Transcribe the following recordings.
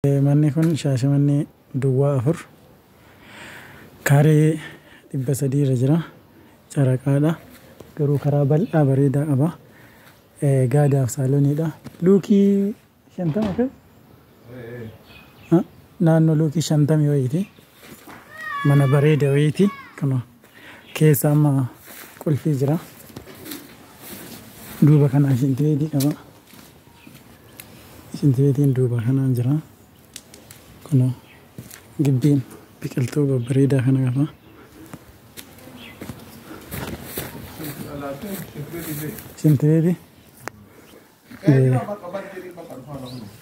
Manni kun Shaashamannee Duwwaa 4 kaaree 300 irra jira. Caraqaadha. Garuu karaa bal'aa bareedaa qaba. Gaadaaf saalooniidha. Luukii 50 fi naannoo luukii 50 wayiiti. Mana bareeda wayiiti. Kana keessa amma qulfii jira. Duuba kanaa shintibeetii qaba. Shinti beetiin duuba kanaan jira. Kunoo gibbiin biqiltuu babbareedaa kana qaba. Shinti beetii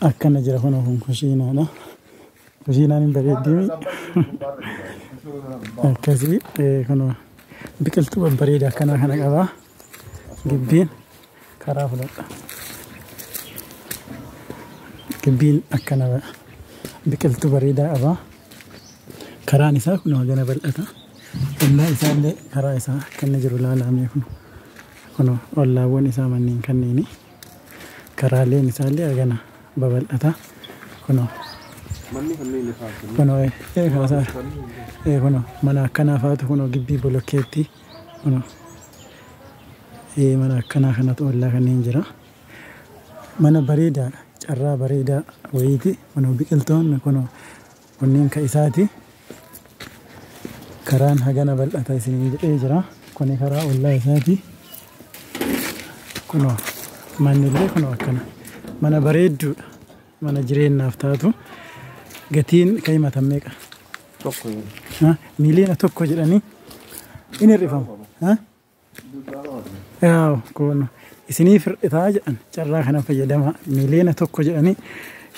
akkana jira kunoo kun kushiinaadha. Kushiinaan hin bareeddimi. Akkasii kunoo biqiltuu babbareedaa akkanaa kana qaba. Gibbiin karaa fudhadha. Gibbiin akkana biqiltuu bareedaa qaba. Karaan isaa kun hagana bal'ata. Ollaa isaa illee karaa isaa akka inni jiru ilaalamee kun kun ollaawwan isaa manneen kanneeni. Karaaleen isaa illee hagana babal'ata. Kunoo Manni kanneen lafaa kunoo ee kaasaa ee kunoo mana akkanaa faatu kunoo gibbii bolokkeettii Kunoo. Ee mana akkanaa kanatu ollaa kanneen jira. Mana bareedaadha. Carraa bareedaa wayiiti. Kunoo biqiltoonni kunoo kunniin ka isaati. Karaan hagana bal'ata isiniin jedhee jira. Kuni karaa ollaa isaati. Kunoo manni illee kunoo akkana. Mana bareedduudha. Mana jireenyaaf taatu gatiin kan himatan meeqa? Tokko hin. Ha? Miiliyoona tokko jedhanii in hir'ifamu. Ha? Yaaw, kun isiniif hir'itaa jedhan carraa kana fayyadamaa miiliyoona tokko jedhanii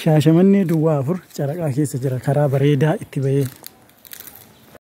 shaashamannee duwwaa afur caraqaa keessa jira karaa bareedaa itti bahee